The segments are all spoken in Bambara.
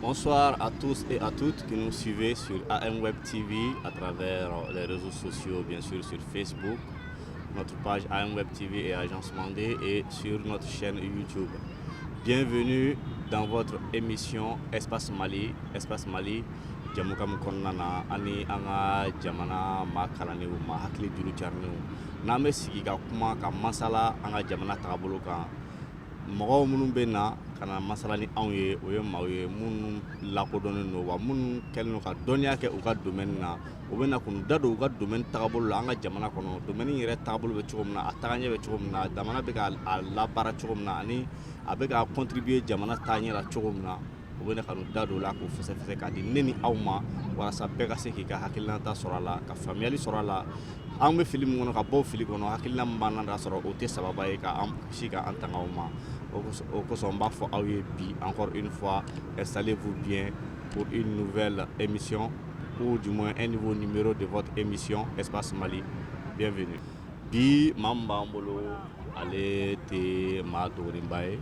Bonsoir à tous et à toutes qui nous suivez sur AM Web TV à travers les réseaux sociaux, bien sûr sur Facebook, notre page AM Web TV et Agence Mandé et sur notre chaîne YouTube. Bienvenue dans votre émission Espace Mali. Espace Mali, jɛmukan min kɔnɔna na ani an ka jamana maa kalannenw maa hakili juru carinenw n'an bɛ sigi ka kuma ka masala an ka jamana taabolo kan mɔgɔw minnu bɛ na ka na masala ni anw ye o ye maaw ye minnu lakodɔnnen don wa minnu kɛlen don ka dɔnniya kɛ u ka domaine na u bɛ na k'u da don u ka domaine taabolo la an ka jamana kɔnɔ domaine in yɛrɛ taabolo bɛ cogo min na a tagaɲɛ bɛ cogo min na jamana bɛ ka a labaara cogo min na ani a bɛ ka contribuer jamana taaɲɛ la cogo min na u bɛ ka da don la k'u fɛsɛsɛ k'a di ne ni aw ma walasa bɛɛ ka se k'i ka hakilanta sɔrɔ a la ka faamuyayali sɔrɔ a la an bɛ fili min kɔnɔ ka bɔ fili kɔnɔ hakilila banna da sɔrɔ o tɛ saba ye ka si ka an tanga ma o kosɔn n b'a fɔ aw ye bi an kɔrɔ i fɔ salen k'u bi ko i nufɛ emisiy ko jumɛn e ni fɔ ninb de fɔ emisiy esfa suma bif bi maa min b'an bolo ale tɛ maa dogolenba ye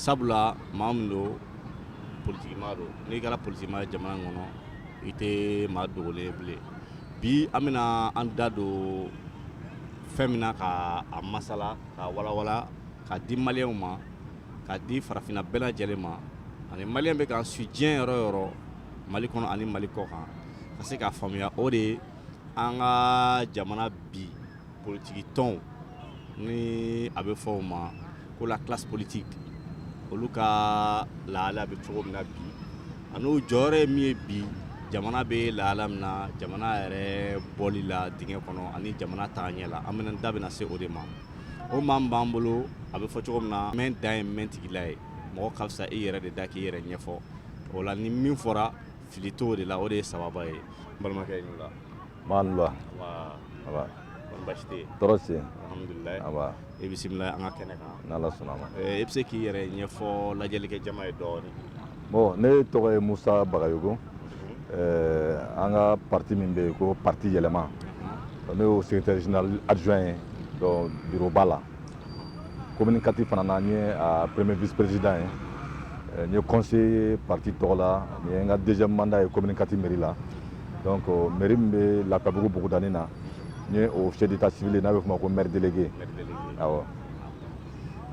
sabula maa min don politikimaa don n'i kɛra politikimaa ye jamana in kɔnɔ i tɛ maa dogolen ye bilen bi an bɛna an da don fɛn min na ka a masala ka walawala ka di maliyɛnw ma ka di farafinna bɛɛ lajɛlen ma ani maliyɛn bɛ k'an suivi diɲɛ yɔrɔ o yɔrɔ mali kɔnɔ ani mali kɔ kan ka se k'a faamuya o de ye an ka jamana bi politiki tɔnw ni a bɛ fɔ u ma ko la classe politique olu ka lahala bɛ cogo min na bi an'u jɔyɔrɔ ye min ye bi jamana bɛ lahala min na jamana yɛrɛ bɔli la dingɛ kɔnɔ ani jamana taa ɲɛ la an bɛna da bɛna se o de ma o maa min b'an bolo a bɛ fɔ cogo min na mɛn dan ye mɛn tigi la ye mɔgɔ ka fisa i yɛrɛ de da k'i yɛrɛ ɲɛfɔ o la ni min fɔra Fili t'o de la o de y'a sababu ye balimakɛ la i bisimila an ka kɛnɛ e bɛ se k'i yɛrɛ ɲɛfɔ lajɛlikɛ jama ye dɔɔnin bon ne tɔgɔ ye musa bagayoko an ka pati min bɛ yen ko pati yɛlɛma ne y'o secrétaire général adjoint ye donc bureau ba la Commune quatre fana na n ye ah, premier vice président ye eh, n ye conseiller parti tɔgɔ la nin ye n ka deuxième mandat ye commune quatre mairie la donc euh, mairie min bɛ lafiyabugu bugudani na n ye o officier d'état civil ye n'a bɛ f'o ma ko maire délégué awɔ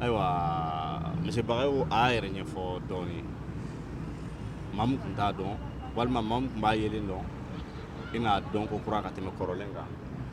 ayiwa monsieur bagayoko a y'a yɛrɛ ɲɛfɔ dɔɔni maa min tun t'a dɔn walima maa min tun b'a yelen dɔn i n'a dɔn kokura ka tɛmɛ kɔrɔlen kan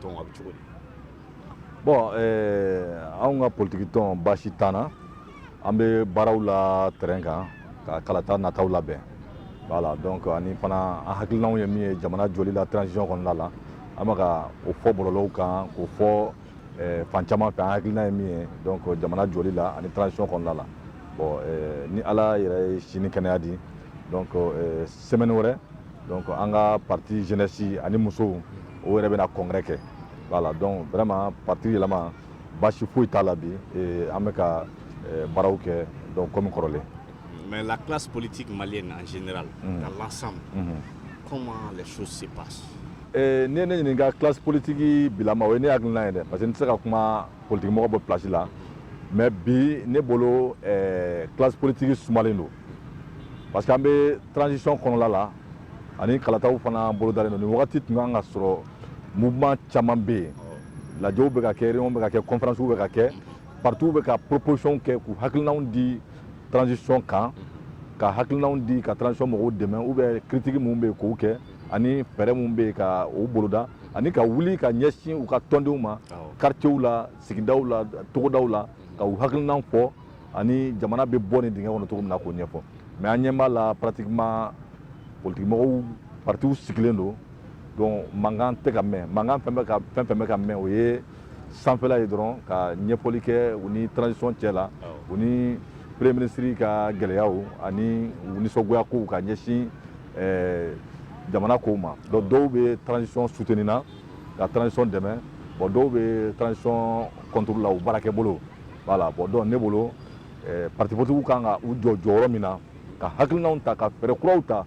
tɔn a bɛ cogo di bon eh, anw ka politiki tɔn baasi t'an na an bɛ baaraw la terrain kan ka kalata nataw labɛn voilà donc ani fana an hakilinaw ye min ye jamana jɔli la transition kɔnɔna la an bɛ ka o fɔ bɔlɔlɔw kan k'o fɔ eh, fan caman fɛ an hakilina ye min ye donc jamana jɔli la ani transition kɔnɔna la bon eh, ni ala yɛrɛ ye si ni kɛnɛya di donc eh, semaine wɛrɛ donc an ka parti jeunesse ani musow o yɛrɛ bɛna congrès kɛ voilà donc vraiment parti yɛlɛma baasi foyi t'a la bi an bɛ ka eh, baaraw kɛ donc comme kɔrɔlen mais la classe politique malienne en général mm. dans l'ensemble mm-hmm. comment les choses se passent eh, n'i ye ne ɲininka classe politique bilama o ye ne hakilina ye dɛ parce que n tɛ se ka kuma politigimɔgɔ bɛɛ place la mais bi ne bolo eh, classe politique sumalen don parce que an bɛ transition kɔnɔla la ani kalataw fana bolodalen don nin wagati tun kan ka sɔrɔ mouvement caman bɛ yen lajɛw bɛ ka kɛ réunion bɛ ka kɛ conférence bɛ ka kɛ partiw bɛ ka proposition kɛ k'u hakilinaw di transition kan ka hakilinaw di ka transition mɔgɔw dɛmɛ ou bien critique minnu bɛ yen k'o kɛ ani fɛɛrɛ minnu bɛ yen ka o boloda ani ka wuli ka ɲɛsin u ka tɔndenw ma quartierw la sigidaw la togodaw la ka u hakilinaw fɔ ani jamana bɛ bɔ nin dingɛ kɔnɔ cogo min na k'o ɲɛfɔ mais an ɲɛ b'a la pratiquement politikimɔgɔw partiw sigilen don donc mankan tɛ ka mɛn mankan fɛn fɛn bɛ ka mɛn o ye sanfɛla ye dɔrɔn ka ɲɛfɔli kɛ u ni transition cɛ la u ni premier ministre ka gɛlɛyaw ani u nisɔngoya kow ka ɲɛsin eh, jamana kow ma donc dɔw bɛ transition soutenir na ka transition dɛmɛ bon dɔw bɛ transition contre la u baarakɛ bolo Voilà bon donc ne bolo ɛɛ partis politiques kan ka u jɔ jɔyɔrɔ min na, ka hakilinaw ta, ka fɛɛrɛ kuraw ta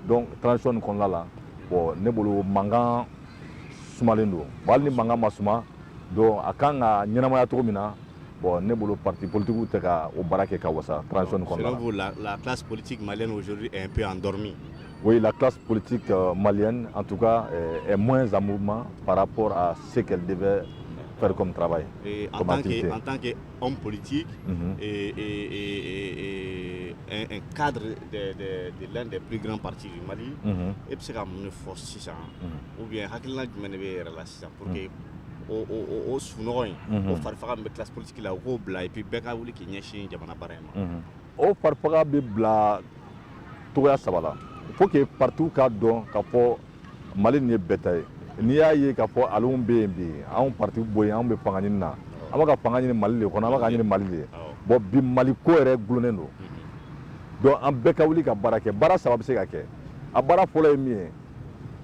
donc transition nin kɔnɔna la bon ne bolo mankan sumalen don bon hali ni mankan ma suma donc a kan ka ɲɛnamaya cogo min na bon ne bolo partis politiques tɛ ka o baara kɛ ka wasa transition nin kɔnɔna la. Selon vous là la classe politique malienne aujourd'hui est un peu endormie? Oui la classe politique malienne en tout cas est moins en mouvement par rapport à Se ka de bɛ fari kɔnɔntaba ye an tan kɛ anw politigi kadiri lɛn de bikina pati mali e bɛ se ka mun fɔ sisan u bɛ hakilila jumɛn de bɛ yɛrɛ la sisan pour que o sunɔgɔ in o fari bɛ ki politigi la u k'o bila ipi bɛɛ ka wuli k'i ɲɛsin jamana bara in ma o fari bɛ bila togoya saba fo que patuw ka dɔn ka fɔ mali nin ye bɛɛ ta ye n'i y'a ye k'a fɔ aliw bɛ yen bi anw partiw bɛ yen anw bɛ fanga ɲini na an bɛ ka fanga ɲini mali de kɔnɔ an bɛ k'a ɲini mali de bon bi mali ko yɛrɛ dulonnen don donc an bɛɛ ka wuli ka baara kɛ baara saba bɛ se ka kɛ a baara fɔlɔ ye min ye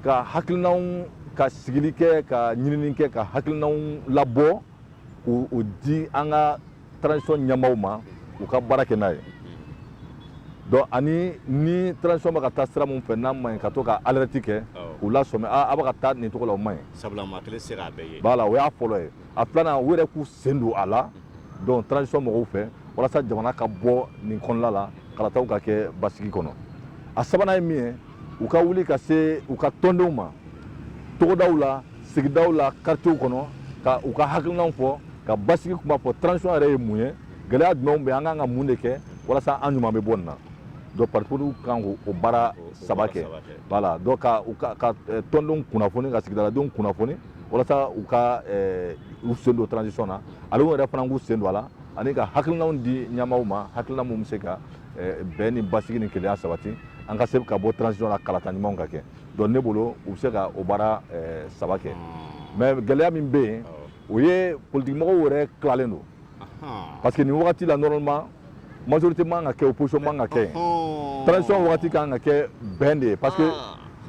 ka hakilinanw ka sigili kɛ ka ɲinini kɛ ka hakilinanw labɔ k'u di an ka transition ɲɛmaaw ma u ka baara kɛ n'a ye donc ani ni transition bɛ ka taa sira min fɛ n'a man ɲi ka to ka alerte kɛ u lasɔmi a a bɛ ka taa nin cogo la o man ɲi sabula maa kelen tɛ se k'a bɛɛ ye voilà o y'a fɔlɔ ye a filanan u yɛrɛ k'u sen don a la donc transition mɔgɔw fɛ walasa jamana ka bɔ nin kɔnɔla la kalataw ka kɛ basigi kɔnɔ a sabanan ye min ye u ka wuli ka se u ka tɔndenw ma togodaw la sigidaw la quartiers kɔnɔ ka u ka hakilinaw fɔ ka basigi kuma fɔ transition yɛrɛ ye mun ye gɛlɛya jumɛnw bɛ an kan ka mun de kɛ walasa an ɲuman bɛ bɔ nin na donc partiw kan k'o o baara saba kɛ voilà donc ka u ka ka eh, tɔndenw kunnafoni ka sigidaladenw kunnafoni walasa u ka eh, u sen don transition na ale yɛrɛ fana k'u sen don a la ani ka hakilinaw di ɲɛmaaw ma hakilina mun bɛ se ka eh, bɛn ni basigi ni kelenya sabati an ka se ka bɔ transition na kalata ɲumanw ka kɛ Donc ne bolo u bɛ se ka o baara saba kɛ mais gɛlɛya min bɛ yen o ye partimɔgɔw yɛrɛ tilalen don parce que nin wagati la normalement majorité man ka kɛ opposition man ka kɛ transition waati ka kan ka kɛ bɛn de ye parce que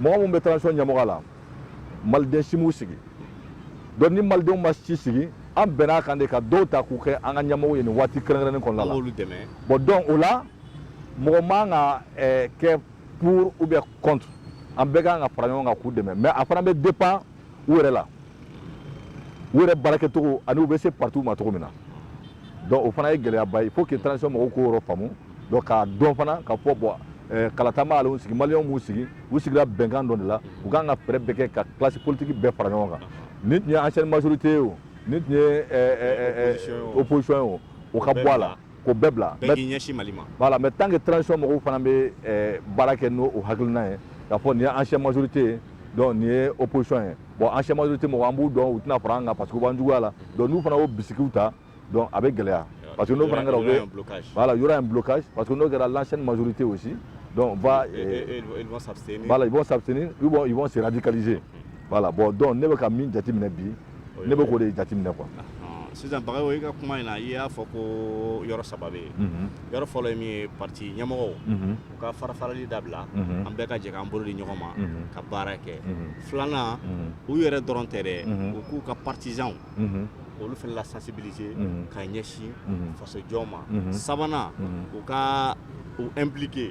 mɔgɔ min bɛ transition ɲɛmɔgɔya la maliden si m'u sigi donc ni malidenw ma si sigi an bɛnna a kan de ka dɔw ta k'u kɛ an ka ɲɛmɔgɔ ye nin waati kɛrɛnnen kɔnɔ la dɛmɛ bon donc o la mɔgɔ man ka kɛ pour ou bien contre an bɛɛ kan ka fara ɲɔgɔn kan k'u dɛmɛ mais a fana bɛ dépend u yɛrɛ la u yɛrɛ baarakɛcogo ani u bɛ se partiw ma cogo min na donc o fana ye gɛlɛyaba ye il faut que transition mɔgɔw k'o yɔrɔ faamu donc k'a dɔn fana k'a fɔ bon eh, kalata m'ale sigi maliyɛnw m'u sigi u sigira bɛnkan dɔ de la u kan ka fɛɛrɛ bɛɛ kɛ ka classe politique bɛɛ fara ɲɔgɔn kan n'i tun ye ancienne majorité ye o n'i tun ye eh, eh, opposition ye o o ka bɔ a la k'o bɛɛ bila bɛɛ k'i ɲɛsin mali ma voilà mais tant que transition mɔgɔw fana bɛ eh, baara kɛ n'o o hakilina ye k'a fɔ nin ye ancien majorité ye donc nin ye opposition ye bon ancien majorité mɔgɔ an b'u dɔn u tɛna fara an kan parce que u b'an juguya la donc n'u fana y'o bisigiw ta donc a bɛ gɛlɛya parce que n'o fana kɛra u bɛ voilà il y aura un blocage parce que n'o kɛra l'ancienne majorité aussi donc va et, et, eh, et, ils vont s'abstenir voilà ils vont s'abstenir ils vont ils vont se radicaliser voilà bon donc ne bɛ ka min jateminɛ bi ne bɛ k'o de jateminɛ quoi sisan Bagayogo i ka kuma in na i y'a fɔ ko yɔrɔ saba bɛ yen yɔrɔ fɔlɔ ye min ye parti ɲɛmɔgɔw u ka farafarali dabila an bɛɛ ka jɛ k'an bolo di ɲɔgɔn ma ka baara kɛ filanan u yɛrɛ dɔrɔn tɛ dɛ u k'u ka partisans olu fana la sensibiliser ka ɲɛsin fasojɔ ma sabanan u ka u impliquer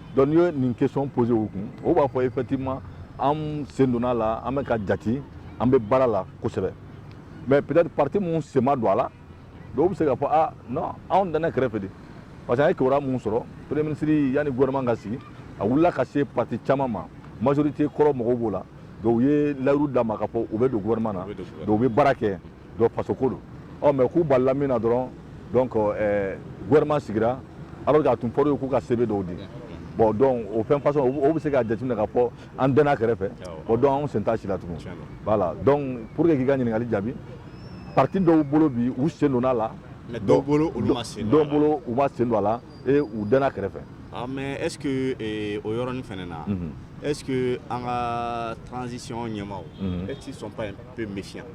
Donc n'i ye nin question poser u kun o b'a fɔ effectivement an sen donna a la an bɛ ka jate an bɛ baara la kosɛbɛ mais peut-être parti minnu sen ma don a la dɔw bɛ se ka fɔ anw dɛnna kɛrɛfɛ de parce que an ye kibaru minnu sɔrɔ premier ministre yanni gouvernement ka sigi a wulila ka se parti caman ma majorité kɔrɔ mɔgɔw b'o la dɔw ye layiru d'a ma ka fɔ u bɛ don gouvernement na dɔw bɛ baara kɛ dɔ faso ko don o mais k'u balala min na dɔrɔn donc eh, gouvernement sigira alors que a tun fɔra u ye k'u ka CV dɔw di bon donc o fɛn façon o bɛ se ka jateminɛ ka fɔ an dɛnna kɛrɛfɛ o donc anw sen t'a si la tugun voilà donc pour que k'i ka ɲininkali jaabi parti dɔw bolo bi u sen donna a la dɔw bolo olu ma sen don a la dɔw bolo u ma sen don a la et u dɛnna kɛrɛfɛ ah, mais est ce que eh, o yɔrɔnin fɛnɛ na mm -hmm. est ce que an ka transition ɲɛmaaw mm -hmm. est ce qu'ils sont pas un peu méfiants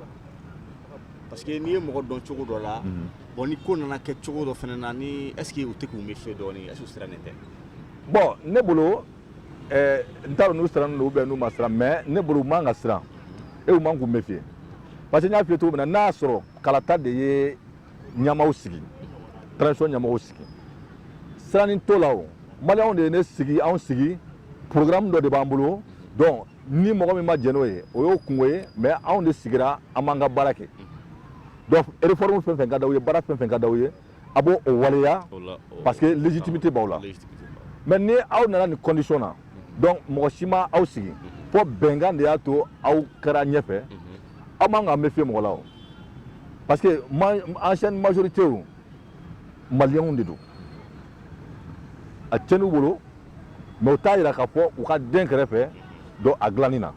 parce que n'i ye mɔgɔ dɔn cogo dɔ la bon ni ko nana kɛ cogo dɔ fana na ni est ce que u tɛ k'u méfier dɔɔni est ce que u sirannen tɛ bon ne bolo eh, n t'a dɔn n'u sirannen don ou bien n'u ma siran mais ne bolo u man ka siran e u man k'u méfier parce que n y'a f'i ye cogo min na n'a y'a sɔrɔ kalata de ye ɲɛmaaw sigi transition ɲɛmɔgɔw sigi siranni t'o la o maliyɛnw de ye ne sigi anw sigi programme dɔ de b'an bolo donc ni mɔgɔ min ma jɛn n'o ye o y'o kunko ye mais anw de sigira an b'an ka baara kɛ donc réforme fɛn fɛn ka d'aw ye baara fɛn fɛn ka d'aw ye a b'o o waleya parce que légitimité b'aw la mais ni aw nana nin condition na donc mɔgɔ si ma aw sigi fɔ bɛnkan de y'a to aw kɛra ɲɛfɛ aw man k'aw méfier mɔgɔ la o parce que ancienne majorité maliyɛnw de don a cɛnn'u bolo mais o t'a yira k'a fɔ u ka dɛn kɛrɛfɛ dɔ a dilanni na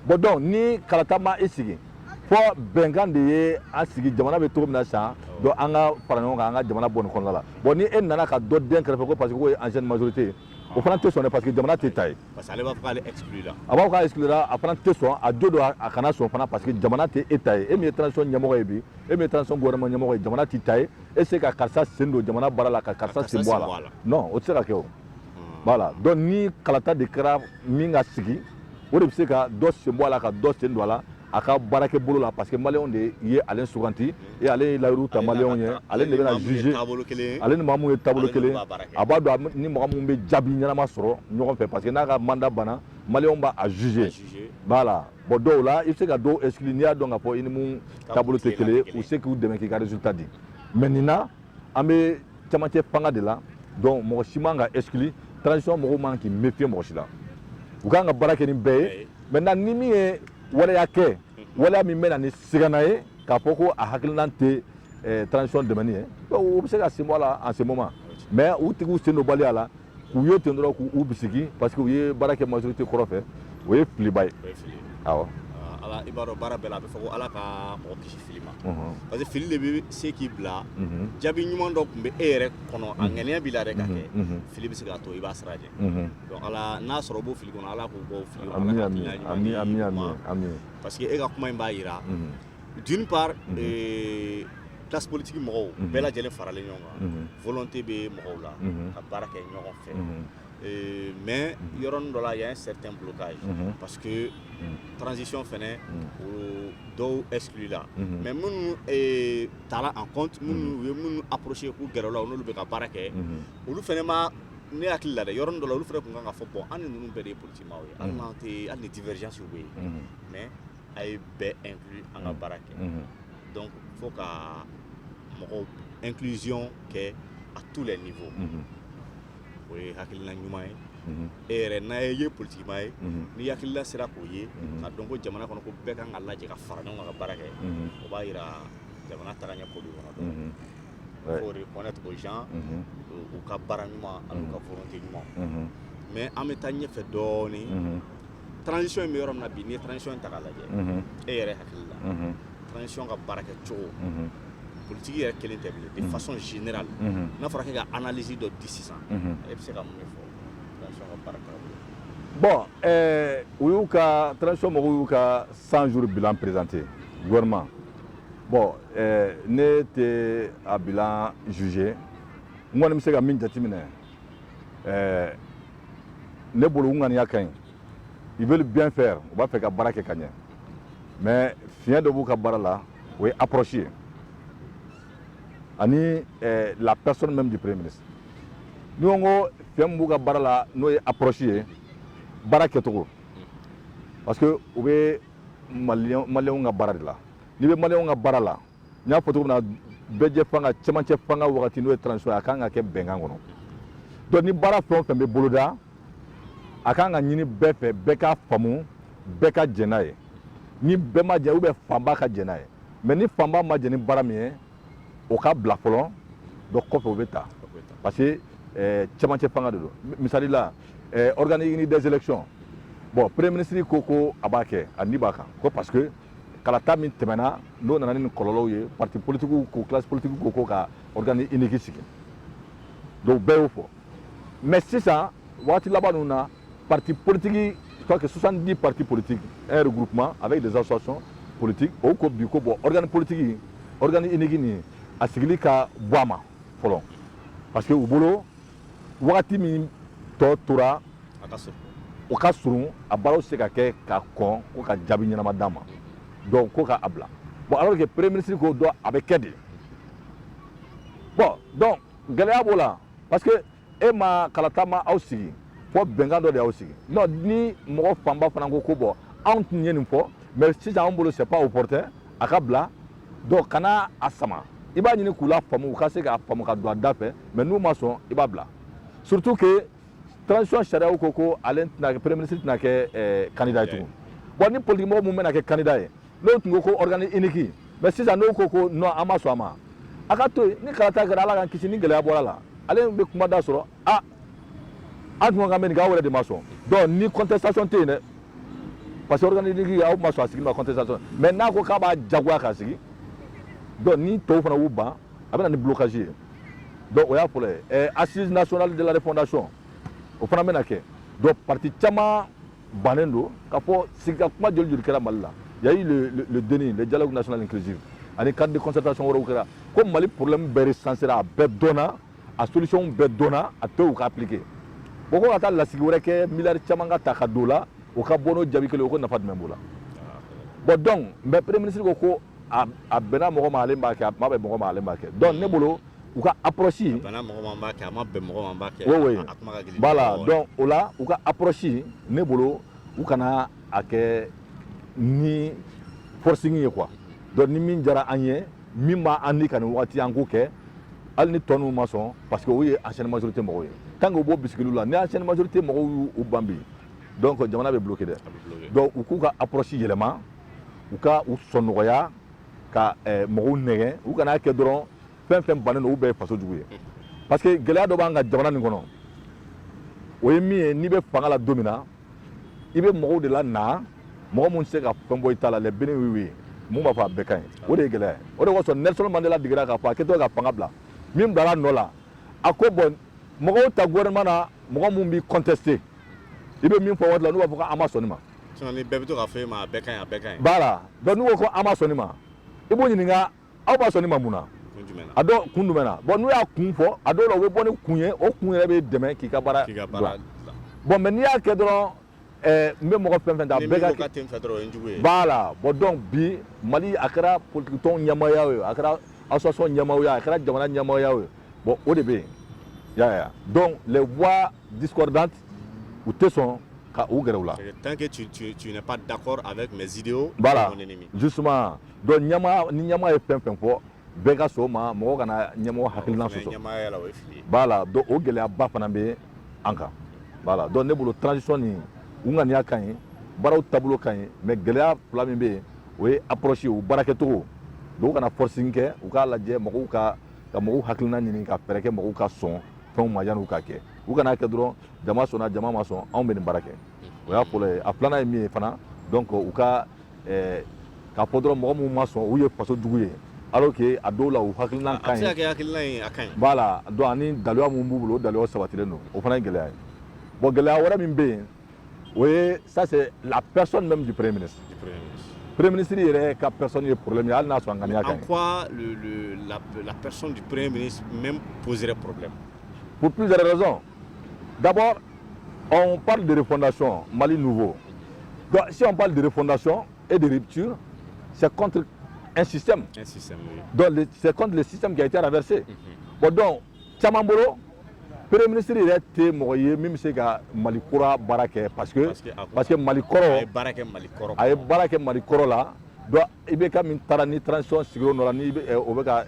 bon donc ni kalata ma i sigi fɔ bɛnkan de ye a sigi jamana bɛ cogo min na san donc an ka fara ɲɔgɔn kan an ka jamana bɔ nin kɔnɔna la bon ni e nana ka dɔ dɛn kɛrɛfɛ ko parce que k'o ye ancienne majorité ye o fana tɛ sɔn parce que jamana t'e ta ye parce que ale b'a fɔ k'ale exclura a b'a fɔ k'a exclura a fana tɛ sɔn a jo don a kana sɔn fana parce que jamana tɛ e ta ye e min ye transition ɲɛmɔgɔ ye bi e min ye transition gouvernement ɲɛmɔgɔ ye jamana t'i ta ye e se ka karisa sen don jamana baara la ka karisa sen bɔ a la non o tɛ se ka kɛ o voilà donc ni kalata de kɛra min ka sigi o de bɛ se ka dɔ sen bɔ a la ka dɔ sen don a la a ka baarakɛ bolo la parce que maliyɛnw de ye ale suganti et ale ye layiru ta maliyɛnw ye ale de bɛna juger ale ni maa mun ye taabolo kelen a b'a dɔn ni mɔgɔ mun bɛ jaabi ɲɛnama sɔrɔ ɲɔgɔn fɛ parce que n'a ka mandat banna maliyɛnw b'a juger voilà bon dɔw la i bɛ se ka dɔw exclu n'i y'a dɔn k'a fɔ i ni mun taabolo tɛ kelen ye u se k'u dɛmɛ k'i ka résultat di mais nin na an bɛ camancɛ fanga de la donc mɔgɔ si man ka exclu transition mɔgɔw man k'i méfier mɔgɔ si la u kan ka baara kɛ ni bɛɛ ye maintenant ni min ye waleya kɛ waleya min bɛ na ni sigana ye k'a fɔ ko a hakilinan tɛ eh, transition dɛmɛni ye o bɛ se ka sen bɔ a la en ce moment mais u tigiw sen don baliya la u ye ten dɔrɔn k'u bisigi parce que u ye baara kɛ majorité kɔrɔ fɛ o ye filiba ye awɔ ala i b'a dɔn baara bɛɛ la a bɛ fɔ ko ala ka mɔgɔ kisi fili ma parce que fili de bɛ se k'i bila jaabi ɲuman dɔ tun bɛ e yɛrɛ kɔnɔ a ŋaniya b'i la dɛ k'a kɛ fili bɛ se k'a to i b'a sira jɛ donc ala n'a sɔrɔ u b'o fili kɔnɔ ala k'u bɔ fili kɔnɔ parce que e ka kuma in b'a yira D'une part unhun ee classe politique mɔgɔw unhun bɛɛ lajɛlen faralen ɲɔgɔn kan unhun volonté bɛ mɔgɔw la unhun ka baara kɛ ɲɔgɔn fɛ unhun ee mais unhun yɔrɔnin dɔ la il y'a un certain blocage unhun parce que unhun transition fɛnɛ unhun o dɔw exclu la unhun mais minnu ee tara en compte unhun minnu u ye minnu approcher k'u gɛrɛ u la u n'olu bɛ ka baara kɛ unhun olu fɛnɛ ma ne hakili la dɛ yɔrɔnin dɔ la olu fɛnɛ tun kan k'a fɔ bon an ni ninnu bɛɛ de ye politikimaw ye hali unhun n'an tɛ hali ni divergence bɛ yen unhun mais a ye bɛɛ inclus an ka baara kɛ donc fo ka mɔgɔw inclusion kɛ à tous les niveaux o ye hakilina ɲuman ye e yɛrɛ n'a ye ye politikima ye ni hakilina sera k'o ye k'a dɔn ko jamana kɔnɔ ko bɛɛ kan ka lajɛ ka fara ɲɔgɔn kan ka baara kɛ o b'a yira jamana tagaɲɛ ko b'i kɔnɔ donc faut reconnaître aux gens u ka baara ɲuman an'u ka volonté ɲuman mais an bɛ taa ɲɛfɛ dɔɔnin transition in bɛ yɔrɔ min na bi n'i ye transition in ta k'a lajɛ e yɛrɛ hakili la transition ka baarakɛcogo politiki yɛrɛ kelen tɛ bilen dɛ façon générale n'a fɔra k'e ka analyse dɔ di sisan e bɛ se ka mun de fɔ transition ka baara taabolo bon ɛɛ u y'u ka transition mɔgɔw y'u ka 100 jours bilan présenté gouvernement bon ɛɛ ne tɛ a bilan juger n kɔni bɛ se ka min jateminɛ ɛɛ ne bolo u ŋaniya ka ɲi ils veulent bien faire u b'a fɛ ka baara kɛ ka ɲɛ mais fiɲɛ dɔ b'u ka baara la o ye approche ye ani eh, la personne même du premier ministre ni ko n ko fiɲɛ min b'u ka baara la n'o ye approche ye baarakɛcogo parce que u bɛ maliyɛnw ka baara de la n'i bɛ maliyɛnw ka baara la n y'a fɔ cogo min na bɛɛjɛ fanga cɛmancɛ fanga wagati n'o ye transition ye a kan ka kɛ bɛnkan kɔnɔ donc ni baara fɛn o fɛn bɛ boloda a kan ka ɲini bɛɛ fɛ bɛɛ k'a faamu bɛɛ ka jɛn n'a ye ni bɛɛ ma jɛn ou bien fanba ka jɛn n'a ye mais ni fanba ma jɛn ni baara min ye o ka bila fɔlɔ donc kɔfɛ o bɛ ta parce que eh, cɛmancɛ fanga de don misali la eh, organe unique des élections bon premier ministre ko ko a b'a kɛ a ni b'a kan ko parce que kalata min tɛmɛna n'o nana ni kɔlɔlɔw ye parti politikiw ko classe politikiw ko ko ka organe unique sigi donc bɛɛ y'o fɔ mais sisan waati laban ninnu na parti politiki soit que 70 parti politiki en regroupement avec des associations politiques u ko bi ko bon organe politiki organe unique nin a sigili ka bɔ a ma fɔlɔ parce que u bolo wagati min tɔ tora o ka surun a baaraw se ka kɛ ka kɔn ko ka jaabi ɲɛnama d'a ma donc ko ka a bila bon alors que premier ministre ko dɔrɔn a bɛ kɛ de bon donc gɛlɛya b'o la parce que e ma kalata ma aw sigi fo bɛnkan dɔ de y'aw sigi non ni mɔgɔ fanba fana ko ko bon anw tun ye nin fɔ mais sisan anw bolo c'est pas opportun a ka bila donc kana a sama i b'a ɲini k'u lafaamu u ka se k'a faamu ka don a da fɛ mais n'u ma sɔn i b'a bila surtout que transition sariyaw ko ko ale tɛna premier ministre tɛna kɛ eh, candidat ye tugun bon ni politique mɔgɔ mun bɛna kɛ candidat ye n'o tun ko ko organe unique mais sisan n'o ko ko non an ma sɔn a ma a ka to yen ni kalata kɛra ala k'an kisi ni gɛlɛya bɔra a la ale bɛ kuma da sɔrɔ ah an tun ka mɛn nin k'aw yɛrɛ de ma sɔn donc ni contestation tɛ yen dɛ parce que organe unique aw ma sɔn a sigili ma contestation mais n'a ko k'a b'a jagoya k'a sigi donc ni tɔw fana y'u ban a bɛ na ni blocage ye donc o y'a fɔlɔ ye eh, assises nationales de la refondation o fana bɛna kɛ donc parti caman bannen don k'a fɔ sigi ka kuma joli joli kɛra mali la y a eu le, le, le DNI le dialogue national inclusif ani cadre de concertation wɛrɛw kɛra ko mali problème bɛɛ resansera a bɛɛ dɔnna a solution bɛɛ dɔnna a tɛ u ka appliquer o ko ka taa lasigi wɛrɛ kɛ miliyari caman ka ta ka don a la o ka bɔ n'o jaabi kelen o ko nafa jumɛn b'o la bon donc mais premier ministre ko ko a bɛnna mɔgɔ ma ale b'a kɛ a ma bɛn mɔgɔ ma ale b'a kɛ donc ne bolo u ka approche a bɛnna mɔgɔ ma b'a kɛ a ma bɛn mɔgɔ ma b'a kɛ oui oui a kuma ka gɛlɛn voilà donc o la u ka approche ne bolo u kana a kɛ ni forcing ye quoi donc ni min diyara an ye min b'an ni ka nin waati an k'o kɛ hali ni tɔ ninnu ma sɔn parce que o ye ancienne majorité mɔgɔw ye tant que u b'o bisigili la ni ancienne majorité mɔgɔw y'u ban bi donc jamana bɛ bloquer dɛ donc u k'u ka approche yɛlɛma u ka u sɔn nɔgɔya ka eh, mɔgɔw nɛgɛn u kana a kɛ dɔrɔn fɛn fɛn bannen don u bɛɛ ye faso jugu ye parce que gɛlɛya dɔ b'an ka jamana nin kɔnɔ o ye min ye n'i bɛ fanga la don min na i bɛ mɔgɔw de lana mɔgɔ minnu tɛ se ka fɛn bɔ i ta la les béni-oui-oui mun b'a fɔ a bɛɛ ka ɲi o de ye gɛlɛya ye o de kosɔn Nelson Mandela degira k'a fɔ a kɛtɔ ka fanga bila min bilara a nɔ la a ko bon mɔgɔw ta gouvernement na mɔgɔ minnu b'i contester i bɛ min fɔ waati la n'u b'a fɔ ko an ma sɔn nin ma sinon ni bɛɛ bɛ to k'a fɔ e ma a bɛɛ ka ɲi a bɛɛ ka ɲi voilà donc n'u ko ko an ma sɔn nin ma i b'u ɲininka aw ma sɔn nin ma mun na a dɔw kun jumɛn na bon n'u y'a kun fɔ a dɔw la u bɛ bɔ ni kun ye o kun yɛrɛ bɛ dɛmɛ k'i ka baara dɔn bon mais n'i y'a kɛ dɔrɔn eh, n bɛ mɔgɔ fɛn fɛn ta bɛɛ ka b'a la bon donc bi mali a kɛra politikitɔn ɲɛmaaya ye a kɛra association ɲɛmaaya a kɛra jamana ɲɛmaaya ye bon o de bɛ yen y'a ya donc les voix discordantes u tɛ sɔn ka u gɛrɛ u la tant que tu, tu, tu n'es pas d'accord avec mes idéaux voilà justement Donc ni ɲɛmaa ye fɛn fɛn fɔ bɛɛ ka sɔn o ma mɔgɔ kana ɲɛmɔgɔ hakilina sɔsɔ voilà donc o gɛlɛya ba fana bɛ an kan voilà donc ne bolo transition u ŋaniya ka ɲi baaraw taabolo ka ɲi mais gɛlɛya fila min bɛ yen o ye approche u baarakɛcogo don u kana forcing kɛ u k'a lajɛ mɔgɔw ka ka mɔgɔw hakilina ɲini ka fɛɛrɛ kɛ mɔgɔw ka sɔn fɛnw ma yanni u ka kɛ u kan'a kɛ dɔrɔn jama sɔnna jama ma sɔn anw bɛ nin baara kɛ o y'a fɔlɔ ye a filanan ye min ye fana donc u ka eh, k'a fɔ dɔrɔn mɔgɔ minnu ma sɔn u ye faso jugu ye alors que a dɔw la u hakilinan ka ɲi voilà donc ani daluya minnu b'u bolo o daluyaw sabatilen don o fana ye gɛlɛya ye bon gɛlɛya wɛrɛ min bɛ yen o ye ça c'est la personne même du premier ministre Premier ministre yɛrɛ ka personne ye problème ye hali n'a sɔrɔ a ŋaniya ka ɲi. En quoi le, le, la, la personne du Premier ministre même poserait problème? Pour plusieurs raisons. D'abord, on parle de refondation, Mali nouveau. Donc, si on parle de refondation et de rupture, c'est contre un système. Un système, oui. Donc, c'est contre le système qui a été renversé. Mhm. Bon, donc, caman bolo, premier ministre yɛrɛ tɛ mɔgɔ ye min bɛ se ka mali kura baara kɛ parce que parce que mali kɔrɔ a ye baara kɛ mali kɔrɔ la donc IBK min taara ni transition sigira o nɔ la ni o bɛ ka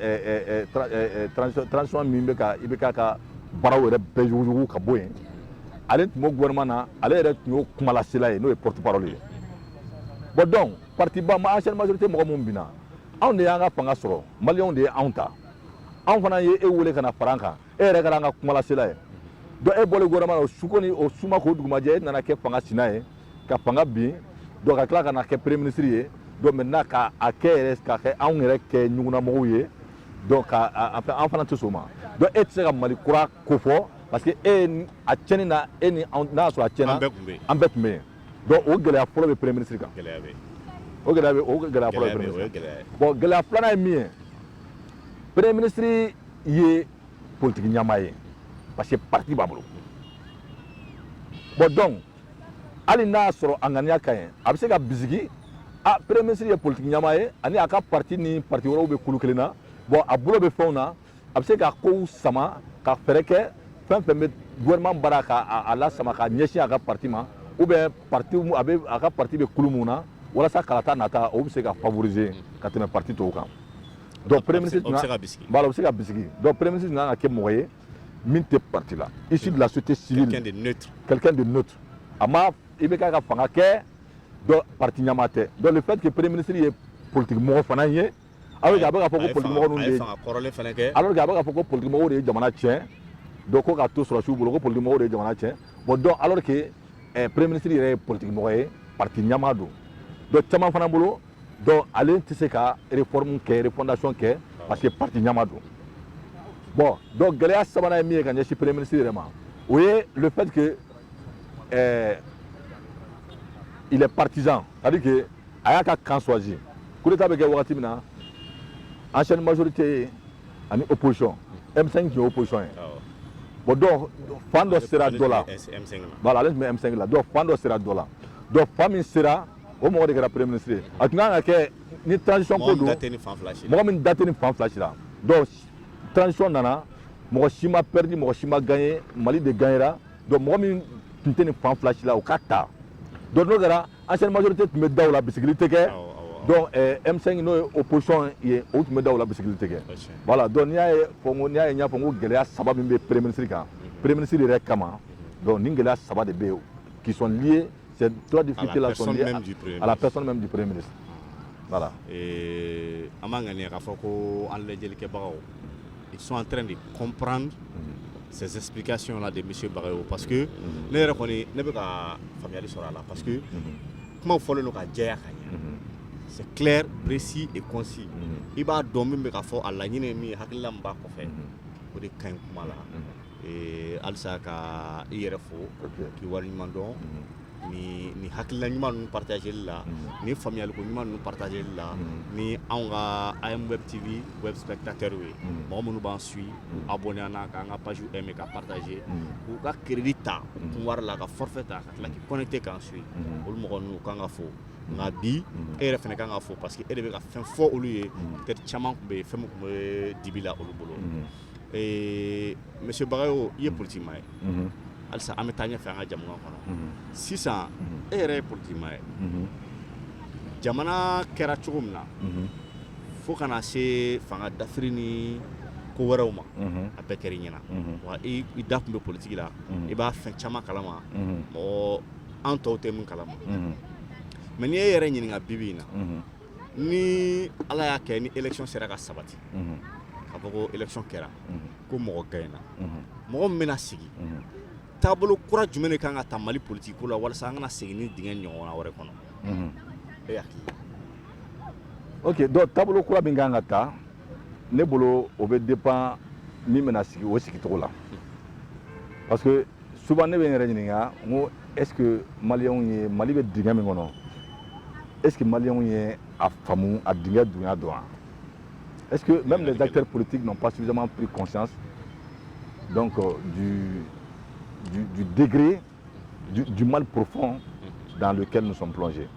transition min bɛ ka IBK ka baaraw yɛrɛ bɛɛ yuguyugu ka bɔ yen ale tun b'o gouvernement na ale yɛrɛ tun y'o kumalasela ye n'o ye porte parole ye bon donc parti ba ma ancienne majorité mɔgɔ minnu binna anw de y'an ka fanga sɔrɔ maliyɛnw de ye anw ta anw fana ye e wele ka na fara an kan e yɛrɛ kɛra an ka kumalasela ye donc e bɔlen gouvernement na o su ko ni o su ma ko dugu ma jɛ e nana kɛ fanga sina ye ka fanga bin donc ka tila ka na kɛ premier ministre ye donc maintenant ka a kɛ yɛrɛ ka kɛ anw yɛrɛ kɛ ɲugunnamɔgɔw ye donc ka a fɛ an fana tɛ sɔn o ma donc e tɛ se ka mali kura ko fɔ parce que e y'a tiɲɛni na e ni n'a y'a sɔrɔ a tiɲɛna an bɛɛ tun bɛ yen donc o gɛlɛya fɔlɔ bɛ premier ministre kan gɛlɛya bɛ o gɛlɛya bɛ o gɛlɛya fɔlɔ bɛ premier ministre bon gɛlɛya filanan ye min ye premier ministre ye politiki ɲɛmaa ye parce que parti b'a bolo bon donc hali n'a y'a sɔrɔ a ŋaniya ka ɲi a bɛ se ka bisigi a premier ministre ye politiki ɲɛmaa ye ani a ka parti ni parti wɛrɛw bɛ kulu kelen na bon a bolo bɛ fɛnw na a bɛ se ka kow sama ka fɛɛrɛ kɛ fɛn fɛn bɛ gouvernement baara ka a lasama ka ɲɛsin a ka parti ma ou bien parti a bɛ a ka parti bɛ kulu min na walasa kalata nata o bɛ se ka favoriser ka tɛmɛ parti tɔw kan donc premier ministre tun ka voilà o bɛ se ka bisigi donc premier ministre tun ka kan ka kɛ mɔgɔ ye min tɛ parti la issu de la société civile quelqu'un de neutre quelqu'un de neutre a ma IBK ka fanga kɛ donc parti ɲɛmaa tɛ donc le fait que premier ministre ye politique mɔgɔ fana ye alors que a bɛ k'a fɔ ko politique mɔgɔ ninnu de ye alors que a bɛ k'a fɔ ko politique mɔgɔw de ye jamana tiɲɛ donc ko k'a to sɔrɔdasiw bolo ko politique mɔgɔw de ye jamana tiɲɛ bon donc alors que eh, premier ministre yɛrɛ ye politique mɔgɔ ye parti ɲɛmaa don donc caman fana bolo donc ale tɛ se ka réforme kɛ refondation kɛ parce que parti ɲɛmaa don bon donc gɛlɛya sabanan ye min ye ka ɲɛsin premier ministre yɛrɛ ma o ye le fait que eh, il est partisan c'est à dire que a y'a ka camp choisi coup d'état bɛ kɛ wagati min na ancienne majorité ye ani opposition m5 tun ye opposition ye bon donc fan dɔ sera dɔ la voilà ale tun bɛ m5 la donc fan dɔ sera dɔ la donc fan min sera o mɔgɔ de kɛra premier ministre ye a tun kan ka kɛ ni transition ko don mɔgɔ min da tɛ nin fan fila si la donc transition nana mɔgɔ si ma perdi mɔgɔ si ma gagner mali de gagnera donc mɔgɔ min tun tɛ nin fan fila si la o ka ta donc n'o kɛra ancienne majorité tun bɛ da o la bisigili tɛ kɛ donc eh, M5 n'o ye opposition ye o tun bɛ da o la bisigili tɛ kɛ voilà donc n'i y'a ye fɔ n ko n'i y'a ye n y'a fɔ n ko gɛlɛya saba min bɛ premier ministre kan mhm. premier ministre yɛrɛ kama mhm. donc nin gɛlɛya saba de bɛ yen qui sont liés Ces trois difficultés-là sont dues à la personne même du Premier ministre. Voilà. Et an b'a ŋaniya k'a fɔ ko an lajɛlikɛbagaw, ils sont en train de comprendre mhm. ces explications-là de M. Bagayoko. Parce que, ne yɛrɛ kɔni ne bɛ ka faamuyali sɔrɔ a la parce que kumaw fɔlen don ka jɛya ka ɲɛ c'est clair précis et concis i b'a dɔn min bɛ ka fɔ a laɲini ye min ye hakilila min b'a kɔfɛ o de ka ɲi kuma la Ee halisa ka i yɛrɛ fo k'i waleɲumandɔn ni hakilila ɲuman ninnu partageli la ni faamuyali ko ɲuman ninnu partageli la ni anw ka a ye wɛrɛtibi wɛrɛ datɛr ye mɔgɔ minnu b'an suivre abonner k'an ka page bɛɛ ka partager k'u ka crédit ta kun wari la ka forfait ta ka tila ka connecter k'an suivre olu mɔgɔ ninnu kan ka fo nka bi e yɛrɛ fana ka kan ka fo parce que e de bɛ ka fɛn fɔ olu ye teri caman tun bɛ yen fɛn tun bɛ dibi la olu bolo Ee monsieur Bagayoko i ye politiki maa ye halisa an bɛ taa ɲɛ fɛ an ka jamana kɔnɔ sisan e yɛrɛ ye politiki maa ye jamana kɛra cogo min na fo ka na se fanga dafiri ni ko wɛrɛw ma a bɛɛ kɛra i ɲɛna wa i da tun bɛ politiki la i b'a fɛn caman kalama mɔgɔ an tɔw tɛ min kalama mais n'i e yɛrɛ ɲininka bibi in na ni ala y'a kɛ ni election sera ka sabati mhm. ka fɔ ko election kɛra mhm. ko mɔgɔ gaɲɛna mhm. mɔgɔ min bɛna sigi taabolo kura jumɛn de kan ka ta mali politiki ko la walasa an kana segin nin dingɛ ɲɔgɔnna wɛrɛ kɔnɔ e hakili ok donc taabolo kura min kan ka ta ne bolo o bɛ dépend min bɛna sigi o sigicogo la parce que souvent ne bɛ n yɛrɛ ɲininka n ko est ce que maliyɛnw ye mali bɛ dingɛ min kɔnɔ est ce que maliyɛnw ye a faamu a dingɛ dunya dɔn wa est ce que même les acteurs politiques n'ont pas suffisamment pris conscience donc euh, du, du, du degré du, du mal profond dans lequel nous sommes plongés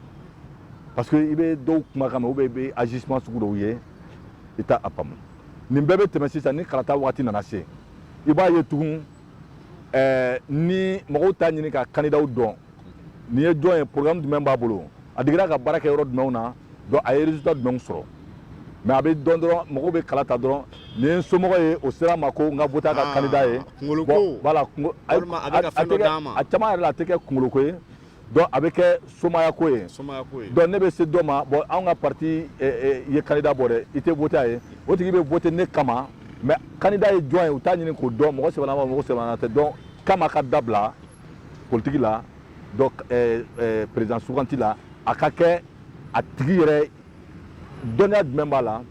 parce que i bɛ dɔw kumakan mɛn ou bien i bɛ agissement sugu dɔw ye i t'a a faamu nin bɛɛ bɛ tɛmɛ sisan ni kalata wagati nana se i b'a ye tugun ɛɛ ni mɔgɔw t'a ɲini ka kandidaw dɔn nin ye jɔn ye programme jumɛn b'a bolo a digira ka baara kɛ yɔrɔ jumɛnw na donc a ye résultat jumɛnw sɔrɔ mais a bɛ dɔn dɔrɔn mɔgɔw bɛ kala ta dɔrɔn nin ye n somɔgɔ ye o sera n ma ko n ka voter a ka ah, candidat ye kungoloko voilà a tɛ kɛ a caman yɛrɛ la a tɛ kɛ kungoloko ye donc a bɛ kɛ somaaya ko ye donc ne bɛ se dɔ ma bon anw ka parti eh, eh, ye candidat bɔ dɛ i tɛ voter a ye o tigi bɛ voter ne kama mais candidat ye jɔn ye u t'a ɲini k'o dɔn mɔgɔ sɛbɛ wa mɔgɔ sɛbɛ tɛ donc kama ka dabila politiki la donc eh, président suganti la a ka kɛ a tigi yɛrɛ dɔnniya jumɛn b'a la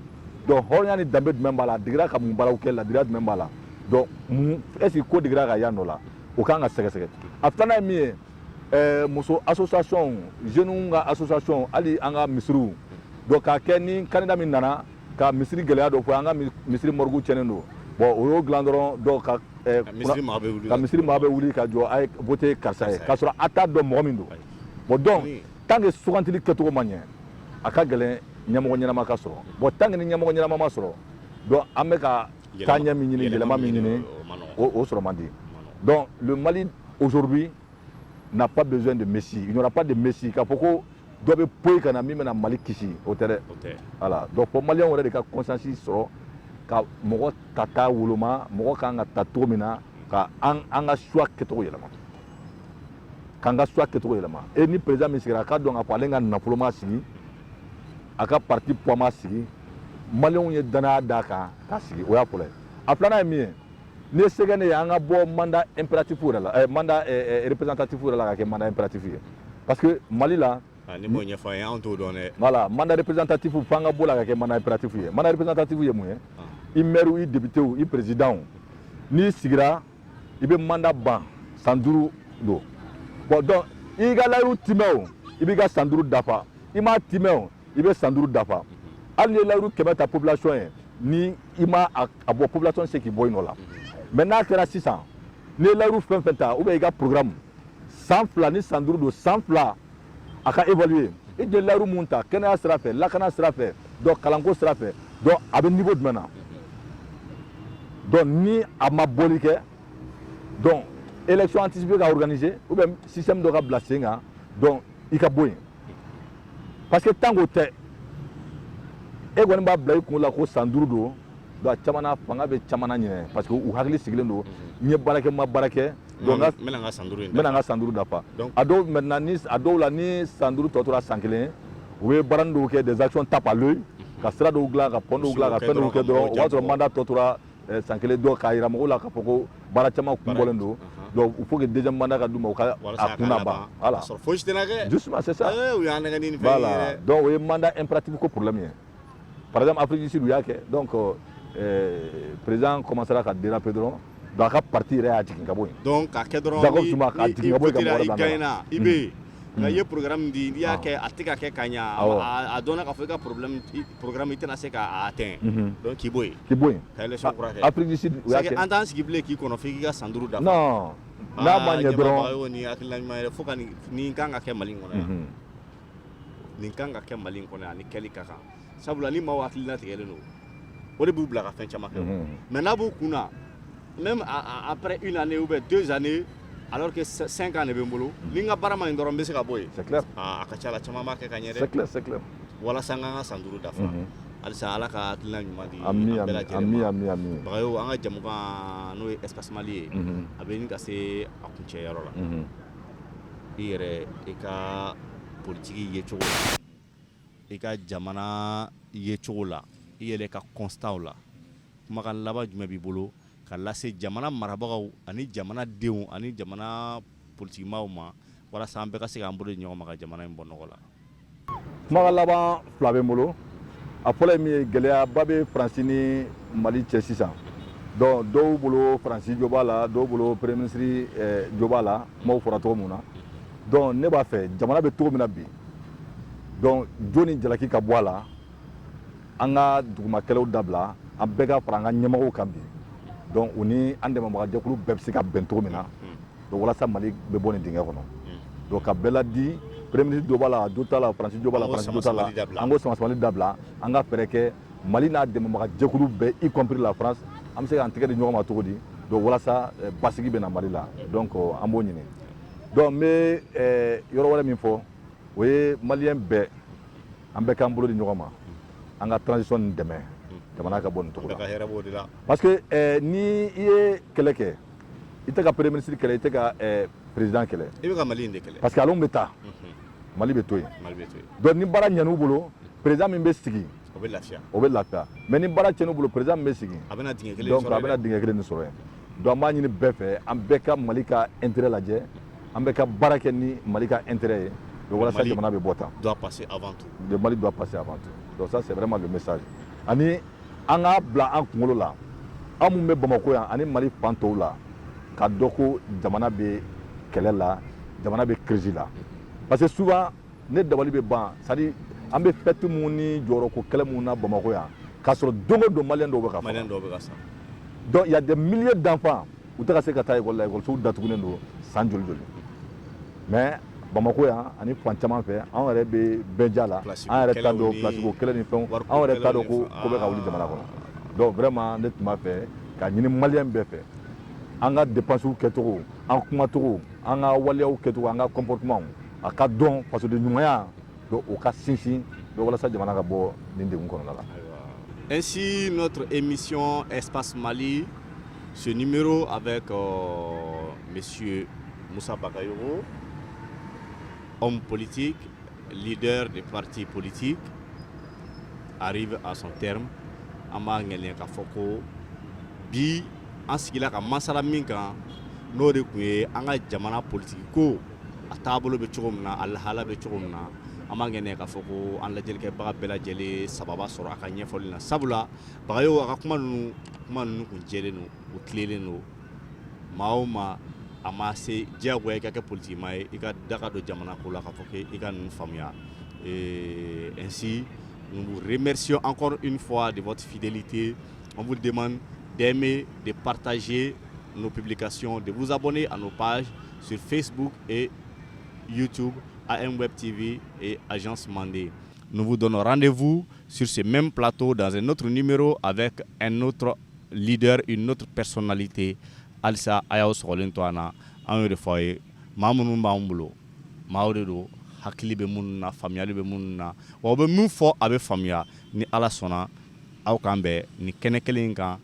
donc hɔrɔnya ni danbe jumɛn b'a la a digira ka mun baaraw kɛ ladiriya jumɛn b'a la donc est ce que ko digira ka yan dɔ la o kan ka sɛgɛsɛgɛ a filanan ye min ye Ɛɛ muso association jeunes ka association hali an ka misiriw donc k'a kɛ ni candidat min nana ka misiri gɛlɛya dɔ fɔ an ka misiri morgue cɛnnen don bon o y'o dilan dɔrɔn donc ka misiri maa bɛ wuli ka jɔ a ye voter karisa ye k'a sɔrɔ a t'a dɔn mɔgɔ min don bon donc tant que sugantili kɛcogo ma ɲɛ a ka gɛlɛn ɲɛmɔgɔ ɲɛnama ka sɔrɔ bon tant que ni ɲɛmɔgɔ ɲɛnama ma sɔrɔ donc an bɛ ka taaɲɛ min ɲini yɛlɛma min ɲini o sɔrɔ man di donc le Mali aujourd'hui n'a pas besoin de messie il n'y aura pas de messie k'a fɔ ko dɔ bɛ poyi ka na min bɛna Mali kisi o tɛ dɛ voilà donc fɔ maliyɛnw yɛrɛ de ka conscience sɔrɔ ka mɔgɔ tata woloma mɔgɔ kan ka ta cogo min na ka an an ka choix kɛcogo yɛlɛma k'an ka choix kɛcogo yɛlɛma e ni président min sigira a k'a dɔn k'a fɔ ale ka nafolo m'a sigi a ka parti poids m'a sigi maliyɛnw ye danaya d'a kan k'a sigi o y'a fɔlɔ ye a filanan ye min ye n'i ye se kɛ ne ye an ka bɔ mandat impératif yɛrɛ la eh, mandat eh, eh, représentatif yɛrɛ la ka kɛ mandat impératif ye parce que mali la ah, n'i m'o ɲɛfɔ an ye anw t'o dɔn dɛ voilà mandat représentatif fo an ka bɔ o la ka kɛ mandat impératif ye mandat représentatif ye mun ye ah. i maire i député i président n'i sigira i bɛ mandat ban san duuru don bon donc i ka layiru timɛ o i b'i ka san duuru dafa i m'a timɛ o i bɛ san duuru dafa hali n'i ye layiru kɛmɛ ta population ye ni i ma a bɔ population se k'i bɔ i nɔ la mais n'a kɛra sisan n'i ye layiru fɛn fɛn ta ou bien i ka programme san fila ni san duuru don san fila a ka évaluer i tun ye layiru mun ta kɛnɛya sira fɛ lakana sira fɛ donc kalanko sira fɛ donc a bɛ niveau jumɛn na donc ni a ma bɔli kɛ donc élection anticipée ka organiser ou bien système dɔ ka bila sen kan donc i ka bɔ yen parce que tant k'o tɛ e kɔni b'a bila i kun la ko san duuru don donc a caman na fanga bɛ caman na ɲinɛ parce que u hakili sigilen don n ye baara kɛ n ma baara kɛ Donc n bɛna n ka san duuru in dafa, n bɛna n ka san duuru dafa donc a dɔw maintenant ni a dɔw la ni san duuru tɔ tora san kelen u bɛ baarani dɔw kɛ des actions tape à l'œil ka sira dɔw dilan ka pont dɔw dilan ka fɛn dɔw kɛ dɔrɔn o b'a sɔrɔ mandat tɔ tora eh, san kelen dɔ k'a jira mɔgɔw la k'a fɔ ko baara caman kun bɔlen don donc il faut que deuxième mandat ka d'u ma u ka a kun na ban voilà justement c'est ça eh, u y'a nɛgɛn ni nin fɛn ye dɛ donc o ye mandat impératif ko problème ye par exemple Afrique du Sud u y'a kɛ donc euh, président commencera ka déraper dɔrɔn donc a ka parti yɛrɛ y'a jigin ka bɔ yen donc k'a kɛ dɔrɔn Jacob Zuma k'a jigin ka bɔ yen ka mɔgɔ wɛrɛ bila nɔ la. i bɛ yen nka i ye programme di n'i y'a kɛ a tɛ ka kɛ ka ɲa Awɔ. a- a dɔnna k'a fɔ i ka problème i- programme i tɛna se k'a atteint Mhm. donc k'i bɔ yen k'i bɔ yen ka élection kura kɛ Afrique du Sud u y'a c'est que kɛ an t'an sigi bilen k'i kɔnɔ f'i k'i ka san duuru dafa non n'a ma ɲɛ dɔrɔn ɲɛmɔgɔ y'o ni hakilina ɲuman yɛrɛ fo ka nin nin kan ka kɛ mali in kɔnɔ yan Mhm. nin kan ka kɛ mali in kɔnɔ ani kɛli ka kan sabula ni maaw hakili latigɛlen don o de b'u bila ka fɛn caman kɛ mais n'a b'u kun na même après une année ou bien deux années alors que 5 ans de bɛ n bolo ni n ka baara ma ɲi dɔrɔn n bɛ se ka bɔ yen a ka ca la caman b'a kɛ ka ɲɛ dɛ walasa n ka n ka san duuru dafa halisa ala ka hakilina ɲuman di an bɛɛ lajɛlen ma bagayo an ka jɛmukan n'o ye espace mali ye a bɛ ɲini ka se a kuncɛ yɔrɔ la i yɛrɛ i ka politigi yecogo la i ka jamana yecogo la i yɛrɛ ka constatw la kumakan laban jumɛn b'i bolo ka lase jamana marabagaw ani jamana denw ani jamana politigimaaw ma walasa an bɛɛ ka se k'an bolo di ɲɔgɔn ma ka jamana in bɔ nɔgɔ la kumakan laban fila bɛ n bolo a fɔlɔ ye min ye gɛlɛyaba bɛ faransi ni mali cɛ sisan donc dɔw bolo faransi jo b'a la dɔw bolo premier ministre eh, jo b'a la kumaw fɔra cogo min na donc ne b'a fɛ jamana bɛ cogo min na bi donc jo ni jalaki ka bɔ a la an ka dugumakɛlɛw dabila an bɛɛ ka fara an ka ɲɛmɔgɔw kan bi donc u ni an dɛmɛbagajɛkulu bɛɛ bɛ se ka bɛn cogo min na donc walasa mali bɛ bɔ nin dingɛ kɔnɔ donc ka bɛɛ ladi premier ministre jo b'a la jo t'a la faransi jo b'a la faransi jo t'a la an k'o samasamali dabila an ka fɛɛrɛ kɛ mali n'a dɛmɛbaga jɛkulu bɛɛ y compris la france an bɛ se k'an tɛgɛ di ɲɔgɔn ma cogo di donc walasa eh, basigi bɛ na mali la donc oh, an b'o ɲini donc n bɛ eh, yɔrɔ wɛrɛ min fɔ o ye maliyɛn bɛɛ an bɛɛ k'an bolo di ɲɔgɔn ma an ka transition nin dɛmɛ jamana ka bɔ nin cogo la parce que eh, ni i ye kɛlɛ kɛ i tɛ ka premier ministre kɛlɛ i tɛ ka eh, président kɛlɛ i bɛ ka mali in de kɛlɛ parce que olu bɛ taa mhm. mali bɛ to yen mali bɛ to yen donc ni baara ɲɛn'u bolo président min bɛ sigi o bɛ lafiya o bɛ lafiya mais ni baara cɛn'u bolo président min bɛ sigi a bɛna dingɛ kelen donc a bɛna dingɛ kelen de sɔrɔ yen donc an b'a ɲini bɛɛ fɛ an bɛɛ ka mali ka intérêt lajɛ an bɛɛ ka baara kɛ ni mali ka intérêt ye donc walasa jamana bɛ bɔ tan doit passer avant tout le mali doit passer avant tout donc ça c'est vraiment le message ani an k'a bila an kunkolo la an minnu bɛ bamakɔ yan ani mali fan tɔw la k'a dɔn ko jamana bɛ kɛlɛ la jamana bɛ kirisi la parce que souvent ne dabali bɛ ban c'est-à-dire an bɛ fɛti minnu ni jɔyɔrɔko kɛlɛ minnu na bamakɔ yan k'a sɔrɔ don o don maliyɛn dɔw bɛ ka sa donc il y a des milliers d'enfants u tɛ ka se ka taa école la écolesow datugulen don san joli joli mais bamakɔ yan ani fan caman fɛ anw yɛrɛ bɛ bɛn ja la an yɛrɛ t'a dɔn placeko kɛlɛ ni fɛn anw yɛrɛ t'a dɔn ko ko bɛ ka wuli jamana kɔnɔ donc vraiment ne tun b'a fɛ k'a ɲini maliyɛn bɛɛ fɛ an ka dépensew kɛcogo an kumacogo an ka waleyaw kɛcogo an ka comportementw a ka dɔn faso de ɲumanya Don u ka sinsin bɛ walasa jamana ka bɔ nin dɛgun kɔnɔna la ainsi notre émission espace mali ce numéro avec monsieur moussa bagayogo homme politique leader de parti politique arrive à son terme an b'a ŋaniya k'a fɔ ko bi an sigira ka masala min kan n'o de tun ye an ka jamana politiki ko a taabolo bɛ cogo min na a lahala bɛ cogo min na an b'a ŋaniya k'a fɔ ko an lajɛlikɛbaga bɛɛ lajɛlen sababa sɔrɔ a ka ɲɛfɔli la sabula bagayogo a ka kuma ninnu kuma ninnu kun jɛlen don u tilelen don maa o maa a ma se diyagoya i ka kɛ politikimaa ye i ka daga don jamana ko la k'a fɔ ko i ka ninnu faamuya euh, ainsi nous vous remercions encore une fois de votre fidélité on vous demande d'aimer de partager nos publications de vous abonner à nos pages Sur facebook et youtube am web tv et agence mande nous vous donnons rendez-vous sur ce même plateau dans un autre numéro avec un autre leader une autre personnalité halisa a y'aw sogolen to an na an y'o de fɔ aw ye maa minnu b'an bolo maaw de don hakili bɛ minnu na faamuyali bɛ minnu na wa u bɛ min fɔ a bɛ faamuya ni ala sɔnna aw k'an bɛn nin kɛnɛ kelen in kan